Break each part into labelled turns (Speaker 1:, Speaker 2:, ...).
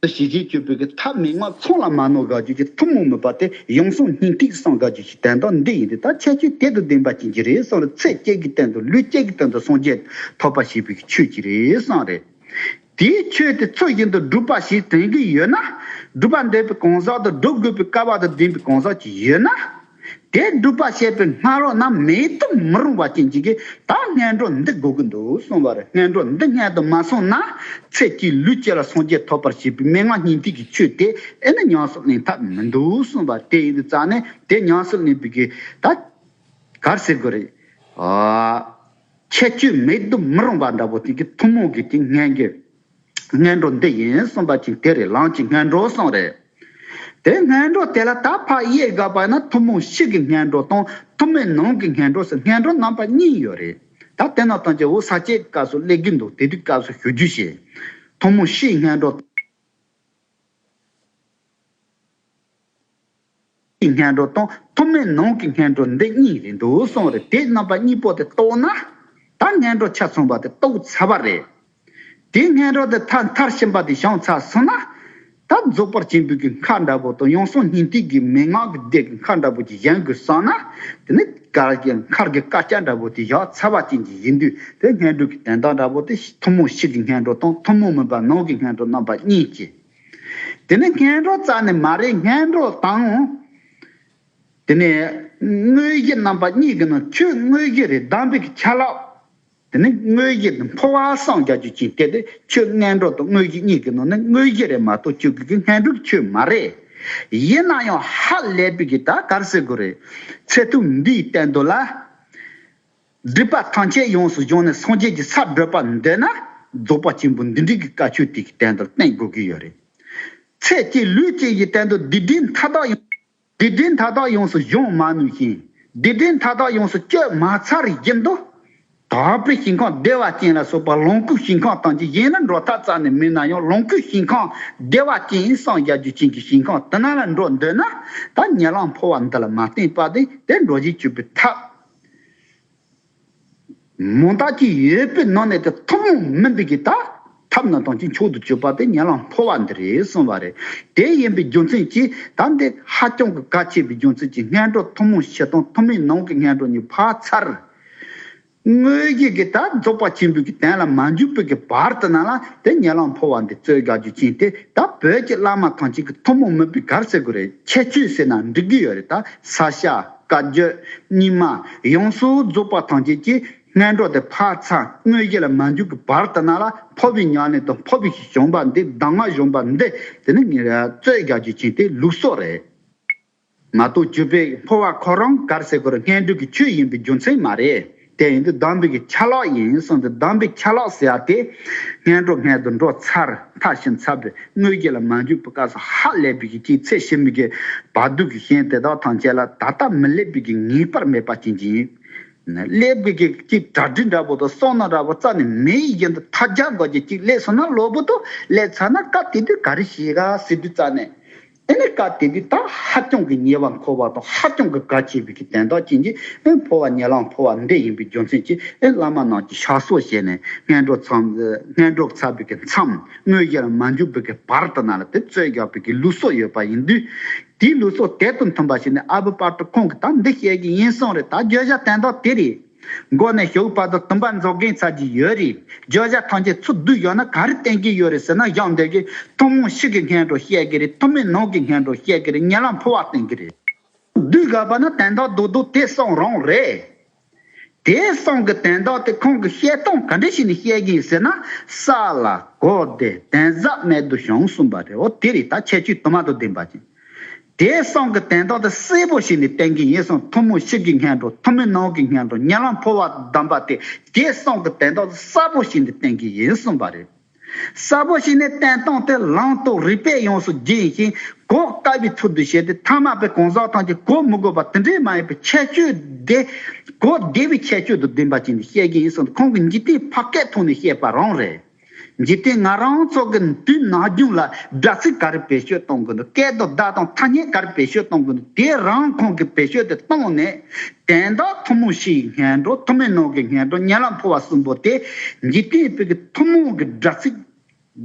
Speaker 1: ཏུ་ཞི་བྱེད་སྤྱོད་པོའི་ཐབས་མི་མངའ་མཚུངས་ལ་མ་ནོར་དགའ་སྤྱོད་ཀྱི་ཐུན་མོང་མོས་པ་སྟེ་ཡོངས་བཟུང་སྙིང་ཐིག་གསང་དགའ་སྤྱོད་ཀྱི་དན་རྟོགས་འདི་ཡིན་ཏེ་ད་ཁྱད་ཆོས་དེ་དང་ལྡན་པ་ཅན་གྱི་རེ་ཟུང་ལ་ཚེ་བསྐྱེད་ཀྱི་སྟེང་དུ་ལུས་བསྐྱེད་ཀྱི་སྟེང་དུ་སངས་རྒྱས་ཐོབ་པ་ཞེས་པའི་ཆོས་ཀྱི་རེ་ཟུང་རེད། དེའི་ཆོས་དེ་ཚུལ་བཞིན་དུ་སྒྲུབ་པ་ཞིག་དོན་གྱིས་ཡོད་ན། སྒྲུབ་པར་འདོད་པའི་གང་ཟག་དང་སྒྲུབ་དགོས་པའི་སྐལ་བ་དང་ལྡན་པའི་གང་ཟག་ཅིག་ཡོད་ན། དེ་སྒྲུབ་པར་བྱེད་པའི་སྔ་རོལ་ན་མེད་དུ་མི་རུང་བ་ཅན་ཅིག་གིས་ད་སྔས་འགྲོ་འདི་དགོས་ཀྱི་འདུག་གསུངས་པར་སྔས་འགྲོ་འདི་སྔས་དུ་མ་གསུངས་ན། ཚེ་གཅིག་ལུས་གཅིག་ལ་སངས་རྒྱས་ཐོབ་པར་བྱེད་པའི་མན་ངག་སྙིང་ཐིག་གི་ཆོས་དེ་ཨེ་ནི་ཉམས་སུ་ལེན་ཐབས་མི་འདུག་གསུངས་པ་དེ་ཡིན་དུ་བཅག་ནས་དེ་ཉམས་སུ་ལེན་པའི་གེགས་ད་གར་སེལ་དགོས་རེད། ཁྱད་ཆོས་མེད་དུ་མི་རུང་བ་འདྲ་བོ་དེང་གི་ཐུན་མོང་གི་དེ་སྙན་རྒྱུད། སྔས་འགྲོ་འདི་ཡིན་གསུངས་པ་ཅིག་དེ་རེད་ལངས་ཀྱི་སྔས་འགྲོ་གསུངས་རེད། དེ་སྔས་འགྲོ་དེ་ལ་ད་ཕ་ཡིས་དགག་པ་ན་ཐུན་མོང་ཕྱི་གི་སྔས་འགྲོ་དང་ཐུན་མོན་ནང་གི་སྔས་འགྲོ་ཟེར་སྔས་འགྲོ་རྣམ་པ་གཉིས་ཡོད་རེད། ད་དེ་ནང་ཐོན་ཅིག་འུ་ས་སྐྱའི་སྐབས་སུ་སླེབས་ཀྱི་འདུག་དེ་དུས་སྐབས་སུ་ཞུ་རྒྱུ་བྱས། ཐུན་མོང་ཕྱིའི་སྔས་འགྲོ། ཀྱི་སྙན་སྒྲོག་དང་ཐོག་མའི་ནང་གི་སྙན་སྒྲོག་འདི་གཉིས་རེད་འདུག་གསུངས་རེད་དེ་རྣམ་པ་གཉིས་པོ་དེ་རྟོགས་ན། ད་སྙན་སྒྲོག་ཆ་ཚང་བ་དེ་རྟོགས་ཚར་བ་རེད། དེ་སྙན་སྒྲོག་དེ་མཐར་མཐར་ཕྱིན་པ་དེ་བྱང་ཚར་སོང་ན། ད་རྫོགས་པར་བྱིང་འབུད་ཀྱི་མཁའ་འདྲ་བོ་དང་ཡང་སོང་སྙིང་ཐིག་གི་མན་ངག་གི་སྡེ་གི་མཁའ་འདྲ་བོ་ཅིག་བཞེངས་དགོས་བསམ་ན། དེ་ནི་གར་གྱི་མཁར་གྱི་སྐར་ཆ་འདྲ་བོ་དེ་བཞག་ཚར་བ་ཅན་གྱི་ཡིན་དུས་དེ་སྙན་སྒྲོག་གི་དན་རྟགས་འདྲ་བོ་དེ་ཐུན་མོང་ཕྱི་གི་སྙན་སྒྲོག་དང་ཐུན་མོང་མིན་པ་ནང་གི་སྙན་སྒྲོག་རྣམ་པ་གཉིས་ཀྱི་དེ་ནི་ངན་འགྲོ་རྩ་ནི་མ་རེག་ངན་འགྲོ་དང། དེ་ནི་དངོས་གཞི་རྣམ་པ་གཉིས་ཀྱི་ནང་ཆོས་དངོས་གཞི་རེ་བདམས་པའི་ཆ་ལག། དེ་ནི་དངོས་གཞི་འདི་འཕོ་བ་སངས་རྒྱ་རྒྱུ་ཅན་སྐད་དེ་ཆོས་ངན་འགྲོ་དང་དངོས་གཞི་གཉིས་ཀྱི་ནང་ནས་དངོས་གཞི་རེ་མ་གཏོགས་སྤྱོད་དགོས་ཀྱི་ངན་འགྲོ་གི་ཆོས་མ་རེག། ཡིན་ན་ཡང་ཧ་ལས་པའི་གི་ད་གར་ཟེར་དགོས་རེད། ཚད་ཐུབ་འདིས་བསྟན་དོན་ལ། སྒྲིབ་པ་ཐམས་ཅད་ཡོངས་སུ་སྦྱོང་ནས་སངས་རྒྱས་ཀྱི་སར་བགྲོད་པར་འདོད་ན་རྫོགས་པ་ཆེན་པོ་འདི་འགྲིག་གི་བཀའ་ཆོས་དེ་གི་སྟེང་དུ་བརྟེན་དགོས་ཀྱི་ཡོད་རེད། ཚེ་སྐྱེས་ལུས་སྐྱེས་ཀྱི་སྟེང་དུ་སྡིག་སྒྲིབ་མཐའ་དག་ཡོངས། སྡིག་སྒྲིབ་མཐའ་དག་ཡོངས་སུ་སྦྱོང་མ་ནུས་ཤིང་སྡིག་སྒྲིབ་མཐའ་དག་ཡོངས་སུ་སྤྱོད་མ་ཚར་རིགས་ཀྱི་མདོ། དག་པའི་ཞིང་ཁམས་བདེ་བ་ཅན་ལ་སོགས་པ་ལོངས་སྐུའི་ཞིང་ཁམས་དང་ཅི་གཞན་ལ་འགྲོ་ཐག་ཚར་ནས་མིན་ན་ཡང་ལོངས་སྐུའི་ཞིང་ཁམས་བདེ་བ་ཅན་ཡིན་སངས་རྒྱ་རྒྱུ་ཅན་གྱི་ཞིང་ཁམས་དུ་ན་ལ་འགྲོ་འདོད་ན་ད་ཉལ་ལངས་འཕོ་བ་འདི་ལ་མ་བརྟེན་པ་དེ་དེར་འགྲོ་བཞིན་སྤྱོད་པའི་ཐབས། མོ་བདག་གིས་ཡོད་པའི་ནང་ནས་དེ་ཐུན་མོང་མིན་པའི་གི་ད་ཐབས་ནང་དང་གཅིག་མཆོག་ཏུ་གྱུར་པ་དེ་ཉེ་ལམ་ཕོ་བ་འདི་རེད་གསུངས་པ་རེད། དེ་ཡིན་པའི་རྒྱུ་མཚན་གྱིས་ད་འདི་ཧ་ཅང་གི་གལ་ཆེ་བའི་རྒྱུ་མཚན་གྱིས་སྔས་འགྲོ་ཐུན་མོང་ཕྱི་དང་ཐུན་མིན་ནང་གི་སྔས་འགྲོ་གཉིས་བག་ཚར། དངོས་གཞི་གི་ད་རྫོགས་པ་ཆེན་པོའི་གི་དན་ལ་མ་འཇུག་པའི་གི་བར་དུ་ན་ལ་དེ་ཉེ་ལམ་ཕོ་བ་འདི་རྩོད་རྒྱག་རྒྱུ་ཅན་དེ་ད་བོད་ཀྱི་བླ་མ་ཐང་ཅིག་གི་ཐུན་མོང་མིན་པའི་གར་སེ་གུ་རེད་ཁྱད་ཆོས་ཟེར་ན་འགྲིག་གི་ཡོད་རེད་ད་ས་ཤ། བཀའ་བརྒྱུད་རྙིང་མ་ཡོངས་སུ་རྫོགས་པ་ཐམས་ཅད་ཀྱི་སྔས་འགྲོ་སྟེ་འཕགས་ཚ་དངོས་གཞི་ལ་མ་འཇུག་གི་བར་དུ་ན་ལ་འཕོ་བའི་མྱ་ངན་དང་འཕོ་བའི་གཞོམ་པ་འདི་གདམས་ངག་གཞོམ་པ་འདི་དེ་ནི་ངེད་རྩོད་རྒྱག་རྒྱུ་ཅན་དེ་ལུགས་སོགས་རེད། མ་གཏོགས་བརྒྱུད་པས་འཕོ་བ་ཁོ་རང་གར་ཟེར་དགོས་ར་སྔས་འགྲོ་གི་ཆོས་ཡིན་པའི་རྒྱུ་མཚན་མ་རེད། དེ་ཡིན་དུ་དམ་འབུལ་གྱི་ཆ་ལག་ཡིན་གསུངས་ཏེ་དམ་འབུལ་ཆ་ལག་ཟེར་ཏེ། སྔས་འགྲོ་སྔས་དུ་འགྲོ་ཚར་མཐའ་བཞིན་ཚར་བའི་དངུལ་སྐྱེས་ལ་མ་འཇུག་པའི་སྐབས་སུ་ཧ་ལས་པའི་གི་ཁྱིའི་ཚེ་ཤི་མི་དགེ་བ་སྡུག་གི་ཤན་དེ་དག་དང་བཅས་ལ་ད་ལྟ་མི་སླེབ་པའི་གི་ངེས་པར་མེད་པ་ཅན་གྱིས། སླེབ་དགོས་ཀྱི་གཅིག་གྲ་སྒྲིག་འདྲ་པོ་དང་སོང་ན་འདྲ་པོ་རྩ་ནས་མེ་ཡི་བཞིན་དུ་མཐའ་རྒྱག་དགོས་ཀྱི་གཅིག་སླེབ་སོང་ན་གློ་བུར་དུ་སླེབ་ཚར་ན་སྐབས་དེ་དུས་ག་རེ་བྱེད་ག་ཟེར་དུས་རྩ་ནས་དེ་ནས་བཀའ་དེ་དུས་ད་ཧ་ཀྱང་གི་ཉེ་བར་འཁོར་བ་དང་ཧ་ཀྱང་གི་དགའ་བྱེད་པའི་གི་དན་རྟགས་ཅན་གྱི་ཨེ་འཕོ་བ་ཉེ་ལམ་འཕོ་བ་འདི་ཡིན་པའི་རྒྱུ་མཚན་གྱིས་ཨེ་བླ་མ་རྣམས་ཀྱིས་ཞག་སོགས་བྱས་ནས་སྔས་འགྲོ་ཚངས་སྔས་འགྲོགས་ཚར་པའི་གི་མཚམས་དངོས་གཞིར་མ་འཇུག་པའི་གི་བར་དུ་ན་ལ་དེ་རྩོད་རྒྱག་པའི་གི་ལུགས་སོགས་ཡོད་པ་ཡིན་དུས། དེའི་ལུགས་སོགས་དེ་དང་མཐུན་པ་ཞིག་ནི་ཨ་བྷི་པར་ཏུ་ཁོང་གིས་ད་འདི་བཤད་ཀྱི་ཡིན་གསུངས་རེད་ད་བརྗོད་བྱ་དན་རྟགས་དེ་རེད། མགོ་ནས་ཞོགས་པ་དང་དུམ་པ་འཛོག་མཁན་ཚར་གྱི་ཡོད་རེད། བརྗོད་བྱ་ཐམས་ཅད་ཚུར་བསྡུས་ཡོང་ན་ག་རེ་བསྟན་གྱི་ཡོད་རེད་ཟེར་ན་གཞང་འདེབས་ཀྱི་ཐུན་མོང་ཞིག་གི་སྔན་དྲོ་བཤད་ཀྱི་རེད་ཐུན་མིན་ནང་གི་སྔན་དྲོ་བཤད་ཀྱི་རེད་ཉེ་ལམ་ཕུར་བ་བསྟན་གྱི་རེད། བསྡུས་དགོས་པ་ནི་དན་ཐོག་འདུག་འདུག་དེ་གསུངས་རང་རེད། དེ་གསུངས་གི་དན་ཐོག་དེ་ཁོང་གི་བཤད་སྟངས་ག་འདྲ་ཞིག་ནས་བཤད་ཀྱི་ཡིན་ཟེར་ན་ས་ལ་གོ་བདེ་དན་གཟབ་མེད་དུ་བྱུང་གསུངས་པ་རེད་འོ་དེ་རེད་ད་ཁྱད་ཆོས་དུ་མ་དང་ལྡན་པ་ཅན། དེས་གསང་གི་དན་རྟགས་དེ་གསལ་པོ་ཞིག་ནས་བསྟན་གྱི་ཡིན་གསུངས་ཐུན་མོང་ཕྱི་གི་སྔན་འགྲོ་ཐུན་མིན་ནང་གི་སྔན་འགྲོ་ཉེ་ལམ་འཕོ་བ་བསྡམས་པ་དེ་དེས་གསང་གི་དན་རྟགས་དེ་གསལ་པོ་ཞིག་ནས་བསྟན་གྱི་ཡིན་གསུངས་པ་རེད། གསལ་པོ་ཞིག་ནས་བསྟན་སྟངས་དེ་ལངས་རྟོགས་རིག་པས་ཡོངས་སུ་བརྒྱན་ཡིན་ཞིང་གོ་དཀའ་བའི་ཚུལ་དུ་བྱས་ཏེ་ཐ་མལ་པའི་གང་ཟག་ཐམས་ཅད་གོ་མི་དགོས་པ་དེ་འདྲའི་མ་ཡིན་པའི་ཁྱད་ཆོས་དེ་གོ་བདེ་བའི་ཁྱད་ཆོས་དུ་བདེན་པ་བྱས་ནས་བཤད་ཀྱི་ཡིན་གསུངས་ཏེ་ཁོང་གི་འཇིག་རྟེན་ཕ་སྐད་ཐོག་ནས་བཤད་པ་རང་རེད། འཇིག་རྟེན་ང་རང་ཚོ་གི་དུས་ནག་རྒྱུན་ལ་སྦྲག་སྲིད་ག་རེ་བེད་སྤྱོད་གཏོང་དགོས་འདུག་སྐད་དོ་བརྡ་དང་ཐ་སྙད་ག་རེ་བེད་སྤྱོད་གཏོང་དགོས་འདུག་དེ་རང་ཁོང་གིས་བེད་སྤྱོད་དེ་གཏོང་ནས། དན་རྟགས་ཐུན་མོང་ཕྱི་ཡི་ངན་འགྲོ་ཐུ་མེད་ནང་གི་ངན་འགྲོ་གཉན་ལ་འཕོ་བ་གསུམ་པོ་དེ་འཇིག་རྟེན་བོད་ཀྱི་ཐུན་མོང་གི་སྦྲག་སྲིད་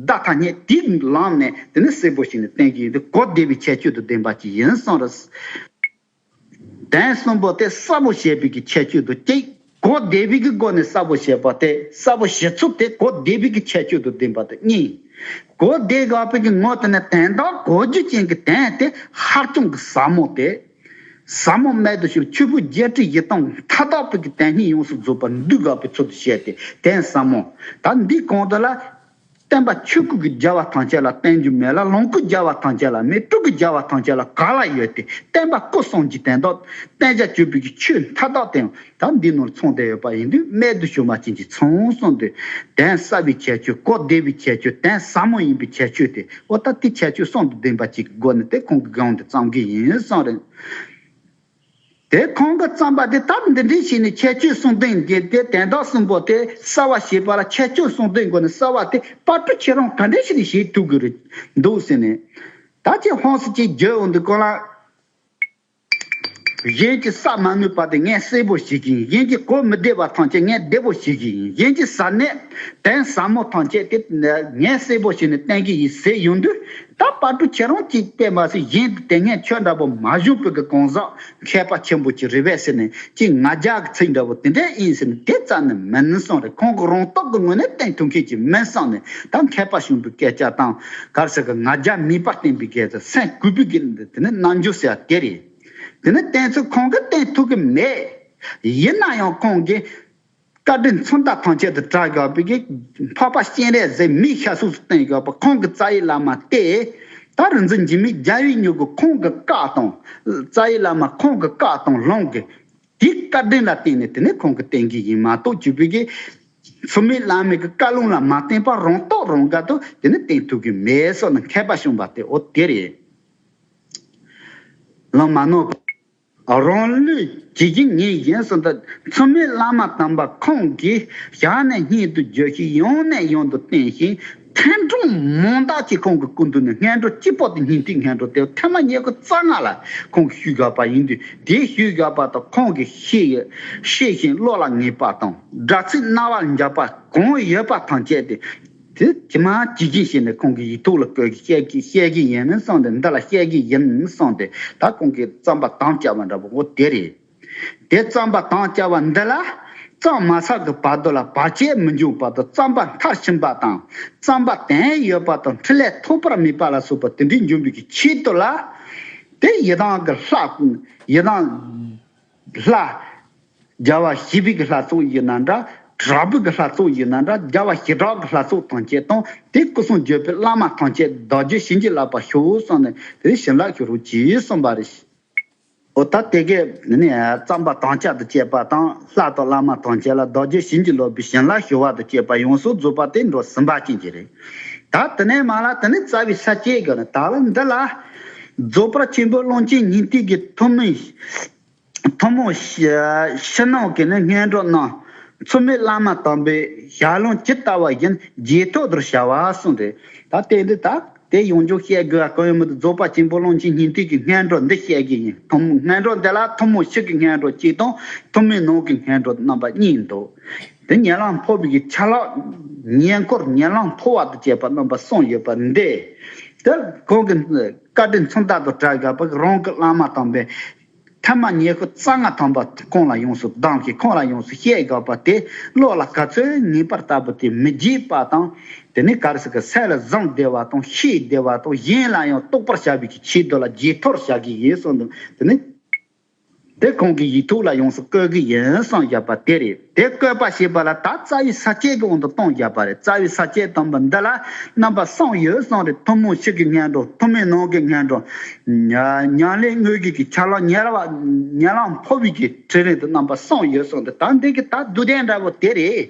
Speaker 1: བརྡ་ཐ་སྙད་དེས་ལངས་ནས་དེ་ནི་གསལ་པོ་ཞིག་ནས་བསྟན་གྱི་ཡོད་འདུག་གོ་བདེ་བའི་ཁྱད་ཆོས་དུ་ལྡན་པ་ཅིག་ཡིན་སོང་ར། གདན་གསུམ་པོ་སྟེ་གསར་བུ་ཞེས་པའི་ཀྱི་ཁྱད་ཆོས་དུ་སྐྱེ། གོ་བདེ་བིག་གི་སྒོ་ནས་གསར་བུ་ཞེས་པ་སྟེ་གསར་བུ་བཞི་ཚུགས་ཏེ་གོ་བདེ་བིག་གི་ཁྱད་ཆོས་དུ་ལྡན་པ་དང་གཉིས། གོ་བདེ་དགའ་བོ་ཀྱི་ངོ་དེ་ནི་དན་དང་གོ་རྒྱུ་ཅན་གྱི་དན་སྟེ་ཧར་ཅང་གི་ཟབ་མོ་སྟེ། ཟབ་མོ་སྨད་དུ་ཞུགས་ཆུ་བོའི་བརྒྱད་ཁྲི་བཞི་སྟོང་མཐའ་དག་པོ་ཀྱི་དན་སྙིང་ཡོངས་སུ་རྫོགས་པར་འདུས་དགའ་བོའི་ཚུལ་དུ་བཤད་དེ་དན་ཟབ་མོ། ད་འདིའི་གོང་དུ་ལ། བསྟན་པ་ཆོས་སྐུ་གི་རྒྱལ་བ་ཐམས་ཅད་ལ་བསྟན་རྒྱུ་མེད་ལ་ལོངས་སྐུ་རྒྱལ་བ་ཐམས་ཅད་ལ་མེད་སྤྲུལ་སྐུ་རྒྱལ་བ་ཐམས་ཅད་ལ་ག་ལ་ཡོད་དེ་བསྟན་པ་སྐུ་གསུམ་གྱི་དན་ཏོག་བསྟན་བྱ་སྤྱོད་པོད་ཀྱི་ཆོས་མཐའ་དག་དེ་ཡང་ད་འདི་ནོར་མཚུངས་བསྡད་ཡོད་པ་ཡིན་དུས་རྨད་དུ་བྱུང་བ་ཅན་གྱི་མཚུངས་གསུངས་དུས་གདན་ས་བའི་ཁྱད་ཆོས་གོ་བདེ་བའི་ཁྱད་ཆོས་དན་ཟབ་མོ་ཡིན་པའི་ཁྱད་ཆོས་དེ་འོ་ད་དེ་ཁྱད་ཆོས་གསུང་དུ་ལྡན་པ་གཅིག་གི་སྒོ་ནས་དེ་གོང་གི་དགོངས་དེ་ཙམ་གྱིས་ཡིན་གསུངས་རེད། དེ་གོང་གི་རྩམ་པ་དེ་དག་འདི་འདྲའི་བྱས་ནས་ཁྱད་ཆོས་གསུང་དོན་འགལ་ཏེ་དན་རྟགས་གསུམ་པོ་དེ་གསལ་བར་བྱེད་པ་ལ་ཁྱད་ཆོས་གསུང་དོན་དགོས་ན་གསལ་བ་དེ་དཔར་སྐྲུ་ཁྱེད་རང་ག་འདྲའི་ཞིག་ནས་བྱེད་ཐུབ་གི་འདུག་ཟེར་ནས། ད་ཁྱེད་ཧོན་སི་ཅེས་བརྗོད་འོང་དུ་ཀོ་ལ། གཞན་གྱི་ས་མ་ནུས་པ་དེ་ངས་བསྲེས་པོ་བྱེད་ཀྱི་ཡིན་གཞན་གྱི་གོས་མི་བདེ་བ་ཐམས་ཅད་ངས་བདེ་པོ་བྱེད་ཀྱི་ཡིན་གཞན་གྱི་ཟ་གནས་དན་ཟབ་མོ་ཐམས་ཅད་དེ་ངས་བསྲེས་པོ་བྱས་ནས་བསྟན་གྱི་ཡིན་ཟེར་ཡོང་དུས་ད་བར་དུ་ཁྱེད་རང་གཅིག་བལྟས་མ་ཟད་གཞན་དུ་དེ་སྔའི་ཆོས་འདྲ་པོ་མ་བཞུགས་པོད་ཀྱི་གང་ཟག་མཁས་པ་ཆེན་པོ་གཅིག་རེད་བས་ཟེར་ནས་གཅིག་ང་རྒྱལ་གྱི་ཚིག་འདྲ་པོ་དེ་འདྲས་ཨིན་ཟེར་ནས་དེ་ཙམ་ནས་མིན་སོང་རེད་ཁོང་གི་རང་རྟོག་གི་ངོས་ནས་བསྟན་ཐུབ་མཁན་གཅིག་མིན་སོང་ནས་ད་མཁས་པ་གཞུང་པོའི་སྐད་ཆ་དང་གར་ཟེར་གི་ང་རྒྱལ་མིད་པར་བསྟན་པའི་སྐད་ཆ་སེམས་སྐུལ་པོད་ཀྱི་དེ་ནི་རྣམ་འགྱུར་ཟེར་བ་དེ་རེད་དེ་ནི་བསྟན་ཚུལ་ཁོང་གིས་བསྟན་ཐུབ་ཀྱི་མེད་ཡིན་ན་ཡང་ཁོང་གིས། བཀའ་དྲིན་མཚོན་རྟགས་ཐང་ཆད་དུ་གྲགས་ཡོད་པའི་འཕགས་པ་སྤྱན་རས་གཟིགས་མི་ཤ་གཟུགས་སུ་བསྟན་ཡོད་པ་ཁོང་གི་རྩ་ཡི་བླ་མ་སྟེ། ད་རུ་འཛིན་འཇིགས་མེད་རྒྱལ་བའི་མྱུ་གུ་ཁོང་གི་བཀའ་དང། རྩ་ཡི་བླ་མ་ཁོང་གི་བཀའ་དང་ལྷུང་གི། དེའི་བཀའ་དྲིན་ལ་བརྟེན་ནས་དེ་ནས་ཁོང་གི་བསྟེན་གི་ཡིན་མ་གཏོགས་བྱུས་པའི་གི། ཚུལ་མིན་བླ་མེད་ཀྱི་བཀའ་ལུང་ལ་མ་བརྟེན་པར་རང་རྟོགས་རང་དགར་དུ་དེ་ནི་བསྟེན་ཐུབ་གི་མེད་སོགས་ནི་མཁས་པ་གསུངས་པ་དེ་འོ་དེ་རེད། ལམ་མ་ནོར་བ། རང་ལུས་བྱེད་ཀྱིན་ངས་གཞན་བཟོ་ཟླ་མཚམས་མེད་བླ་མ་དམ་པ་ཁོང་གི་ཞལ་ནས་སྙན་དུ་བརྗོད་གཞི་ཡང་ནས་ཡང་དུ་བསྟན་ཞིང་ཐན་ཐུང་མང་དག་ཅིག་ཁོང་གི་སྐུ་མདུན་ནས་སྔས་འགྲོ་སྤྱི་དཔོག་ཏུ་ཉིན་ཐིག་སྔས་འགྲོ་དེ་ཐེངས་མ་ཉེས་དགུ་རྩ་ལྔ་ལ་ཁོང་གིས་ཞུས་ག་པ་ཡིན་དུས་དེའི་ཞུས་ག་པ་དང་ཁོང་གི་ཤེས་ཡོད་ཤེས་བཞིན་བློ་ལ་ངེས་པ་དང་སྒྲ་ཚིག་རྣ་བར་འཇགས་པ་གང་ཡོད་པ་དང་བཅས་ཏེ། དེ་ཇི་མ་ཇི་བཞིན་ཤེས་ནས་ཁོང་གི་ཡིག་ཐོག་ལ་བཀོད་གི་བཤད་ཀྱི་བཤད་ཀྱི་ཡིན་གསུངས་ཏེ་འདི་ལ་བཤད་ཀྱི་ཡིན་གསུངས་ཏེ་ད་ཁོང་གིས་རྩམ་པ་དང་བཅའ་བ་འདྲ་པོ་འོ་དེ་རེད། དེ་རྩམ་པ་དང་བཅའ་བ་འདི་ལ། རྩམ་མ་ཚགས་ཀྱི་བར་དོ་ལ་བར་ཆད་མི་འབྱུང་བར་དུ་རྩམ་པ་མཐར་ཕྱིན་པ་དང་རྩམ་པ་དན་ཡོད་པ་དང་འཕྲིན་ལས་ཐོབ་པར་མོས་པ་ལ་སོགས་པ་དེ་འདྲའི་འབྱུང་པོའི་ཆེད་དུ་ལ། དེ་ཡི་དྭགས་ཀྱི་ལྷ། ཡི་དྭགས། ལྷ། རྒྱལ་བ་ཞི་བི་གི་ལྷ་སོགས་ཡིན་ན་འདྲ། དྲག་པོ་གི་ལྷ་སོགས་ཡིན་ན་འདྲ་རྒྱལ་བ་ཞི་དྲག་གི་ལྷ་སོགས་ཐམས་ཅད་དང་དེའི་སྐུ་གསུང་བརྗོད་པའི་བླ་མ་ཐམས་ཅད་བདག་རྒྱུད་བྱིན་གྱིས་བརླབས་པར་ཞུའོ་གསུངས་ནས་དེའི་བྱིན་རླབས་ཞུ་རོགས་གྱིས་གསུངས་པ་རེད། འོ་ད་དེ་གའི་བརྩམས་པ་དམ་བཅའ་དང་བཅས་པ་དང་ལྷ་དང་བླ་མ་ཐམས་ཅད་ལ་བདག་རྒྱུད་བྱིན་གྱིས་རློབ་པའི་བྱིན་རླབས་ཞུ་བ་དང་བཅས་པ་ཡོངས་སུ་རྫོགས་པ་དེ་འགྲོ་སུམ་པ་ཅན་གྱི་རེད། ད་དེ་ནས་མ་ལ་དེ་ནས་རྩ་བའི་ས་བཅད་གི་ནི་དག་ལ་འདི་ལ། རྫོགས་པར་ཆེན་པོའི་ཀློང་ཆེན་ཉིན་གཅིག་གི་ཐུན་མིན། ཐུན་མོང། ཕྱི་ནང་གི་ནི་སྙན་སྒྲོགས་རྣམས། འཚུབ་མེད་བླ་མ་དམ་པའི་ཞལ་ལུང་ཇི་ལྟ་བ་བཞིན་རྗེས་ཐོག་དུར་བྱ་བ་གསུངས་ཏེ། ད་ལྟའི་འདི་དག་དེ་ཡོངས་རྗོགས་བཤད་དགོས་པ་གང་ཡོད་མི་འདུག་རྫོགས་པ་ཆེན་པོའི་ཀློང་ཆེན་ཉིན་གཅིག་གི་སྙན་སྒྲོགས་འདི་བཤད་རྒྱུ་ཡིན། ཐུན་མོང་སྙན་སྒྲོགས་འདི་ལ་ཐུན་མོང་ཕྱི་གི་སྙན་སྒྲོགས་གཅིག་དང་ཐུན་མིན་ནང་གི་སྙན་སྒྲོགས་རྣམ་པ་གཉིས་འདུག། དེ་ཉལ་ལང་འཕོ་བའི་ཆ་ལག་ཉལ་འཁོར་ཉལ་ལང་འཕོ་བ་དང་བཅས་པ་རྣམ་པ་གསུམ་ཡོད་པ་འདི་ལྟར་གོང་གི་བཀའ་དྲིན་མཚུངས་རྟག་ཏུ་བསྒྲགས་དགོས་པར་རང་གི་བླ་མ་དམ་པའི་ཐ་མ་ཉལ་ཁོ་རྩ་སྔགས་དམ་པ་ཁོང་ལ་ཡོངས་སུ་གདམས་ཤིང་ཁོང་ལ་ཡོངས་སུ་བཤད་དགོས་པ་དེ་བློ་ལ་ག་ཚོད་ངེས་པར་ལྟ་བུ་དེ་མི་བགྱིད་པ་དང། དེ་ནས་གར་སོགས་ཀྱི་སལ་ལ་བཟང་བདེ་བ་དང་ཤེས་བདེ་བ་དང་གཞན་ལ་ཡང་རྟོགས་པར་བྱ་བའི་ཆེད་དུ་ལ་རྗེས་ཐོར་བྱ་གི་ཡིན་གསུངས་འདུག་དེ་ནས། དེ་ཁོང་གི་ཡིག་ཐོག་ལ་ཡོངས་སུ་བཀོད་ཀྱི་ཡིན་གསུངས་བཞག་པ་དེ་རེད། དེ་བཀོད་པ་ཞེས་པ་ལ་ད་རྩ་བའི་ས་བཅད་ཀྱི་དབང་དུ་བཏང་བཞག་པ་རེད་རྩ་བའི་ས་བཅད་དམ་པ་འདི་ལ་རྣམ་པ་གསུམ་ཡོད་གསུངས་རེད་ཐུན་མོང་ཕྱི་གི་སྙན་སྒྲོན་ཐུན་མིན་ནང་གི་སྙན་སྒྲོན། ཉང་ལེ་དངོས་གཞི་གི་ཆ་ལག་ཉེར་བ་ཉེར་ལམ་འཕོ་བའི་གི་ཁྲི་རིང་དུ་རྣམ་པ་གསུམ་ཡོད་གསུངས་འདི་ད་འདི་གི་ད་བསྡུ་ལྡན་འདྲ་བོ་དེ་རེད།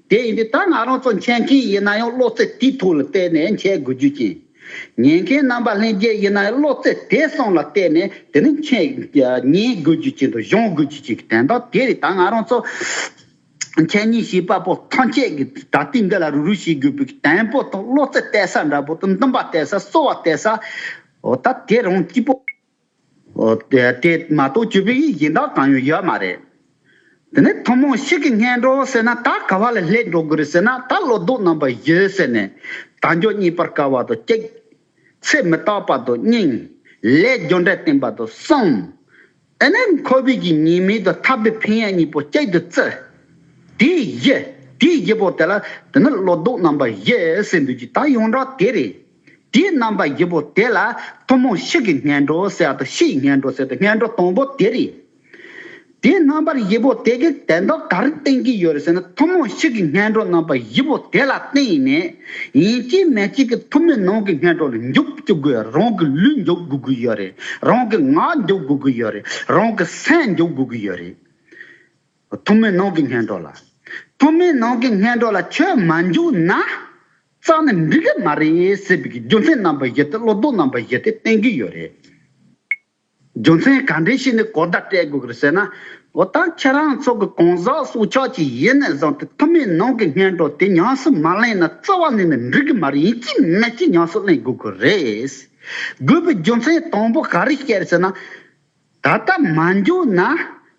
Speaker 1: དེ་ཡིན་དུས་ད་ང་རང་ཚོ་མཁྱེན་མཁན་ཡིན་ན་ཡང་བློ་རྩེ་དེའི་ཐུགས་ལ་གཏད་ནས་མཁྱེན་དགོས་རྒྱུ་རྐྱེན། ཉན་མཁན་རྣམ་པ་ལྷན་རྒྱས་ཡིན་ན་ཡང་བློ་རྩེ་དེ་སོང་ལ་གཏད་ནས་དེ་ནི་མཁྱེན། ཉན་དགོས་རྒྱུ་རྐྱེན་དང་གཞུང་དགོས་རྒྱུ་རྐྱེན་གྱི་དན་དང་དེ་རེད་ད་ང་རང་ཚོ་མཁྱེན་གཉིས་བྱིས་པ་པོ་ཐམས་ཅད་ཀྱི་ད་ལྟའི་འདི་ལ་རུ་རུ་བྱེད་དགོས་པའི་དན་པོ་དང་བློ་རྩེ་གཏད་ས་འདྲ་པོ་དང་འདུན་པ་གཏད་ས་གསོལ་བ་གཏད་ས། འོ་ད་དེ་རང་སྐྱིད་པོ། དེ་མ་གཏོགས་བཅོས་པའི་ཡིག་ཡིན་དག་གང་ཡང་ཡོད་མ་རེད། དེ་ནས་ཐུན་མོང་ཞིག་གིས་ངན་འགྲོ་ཟེར་ན་ད་ག་བ་ལ་སླེབས་འགྲོ་དགོས་རེད་ཟེར་ན་ད་ལོ་ཏོག་རྣམ་པ་ཡོད་ཟེར་ནས་ད་མགྱོགས་གཉིད་པར་དཀའ་བ་དང་སྐྱེད་ཚད་མི་རྟག་པ་དང་སྙིང་ལས་རྒྱུ་འབྲས་བསྟན་པ་དང་གསུམ། དེ་ནས་ཁོ་བོས་ཀྱི་ཉེས་མིང་དང་འཐབ་པའི་ཕན་ཡག་གཉིས་པོ་གཅིག་ཏུ་བརྩི། དེའི་བཞི་དེའི་བཞི་པོ་དེ་ལ་དེ་ནི་ལོ་ཏོག་རྣམ་པ་ཡོད་ཟེར་འདོད་ཀྱི་ད་ཡོངས་གྲགས་དེ་རེད། དེའི་རྣམ་པ་བཞི་པོ་དེ་ལ་ཐུན་མོང་གཤིས་ཀྱི་ངན་འགྲོ་ཟེར་ཏོ་གཤིས་ཀྱི་ངན་འགྲོ་ཟེར་ཏོ་ངན་འགྲོ་དང་པོ་དེ་རེད། དེའི་རྣམ་པར་བཞི་པོ་དེ་གའི་དན་རྡོར་ག་རེ་བསྟན་གྱི་ཡོད་རེད་ཟེར་ན་ཐུན་མོང་གཤིས་ཀྱི་ངན་འགྲོ་རྣམ་པ་བཞི་པོ་དེ་ལ་བསྟན་ཡི་མེད། ཡིན་གཅིག་མེད་གཅིག་གི་ཐུན་མོང་ནང་གི་ངན་འགྲོ་ལ་འཇུག་བཅུག་དགོས་རང་གི་ལུས་འཇུག་དགོས་ཀྱི་ཡོད་རེད་རང་གི་ངག་འཇུག་དགོས་ཀྱི་ཡོད་རེད་རང་གི་སེམས་འཇུག་དགོས་ཀྱི་ཡོད་རེད། ཐུན་མོང་ནང་གི་ངན་འགྲོ་ལ། ཐུན་མོང་ནང་གི་ངན་འགྲོ་ལ་ཁྱོད་མ་འཇུག་ན། གཙང་ནི་འགྲིག་གི་མ་རེད་ཟེར་བའི་རྒྱུ་མཚན་རྣམ་པ་བཞི་སྟེ་བློ་སྡོམ་རྣམ་པ་བཞི་སྟེ་བསྟན་གྱི་ཡོད་རེད། རྒྱུ་མཚན་ག་འདྲའི་ཞིག་ནི་གོ་བརྡ་སྤྲད་དགོས་ཀྱི་ཟེར་ན། འོ་ད་ཁྱེད་རང་ཚོ་གི་གང་ཟག་སྲོག་ཆགས་ཅིག་ཡིན་ནས་བཟང་སྟེ་ཐུ་མེད་ནང་གི་སྙན་གྲོགས་དེ་ཉམས་སུ་མ་ལེན་ན་རྩ་བ་ནས་ནི་འགྲིག་གི་མ་རེད་ཡིན་གྱི་མེད་ཀྱི་ཉམས་སུ་ལེན་དགོས་ཀྱི་རེད། དགོས་པའི་རྒྱུ་མཚན་དང་པོ་ག་རེ་སྐྱེ་ཟེར་ན། ད་ལྟ་མ་འགྱོགས་ན་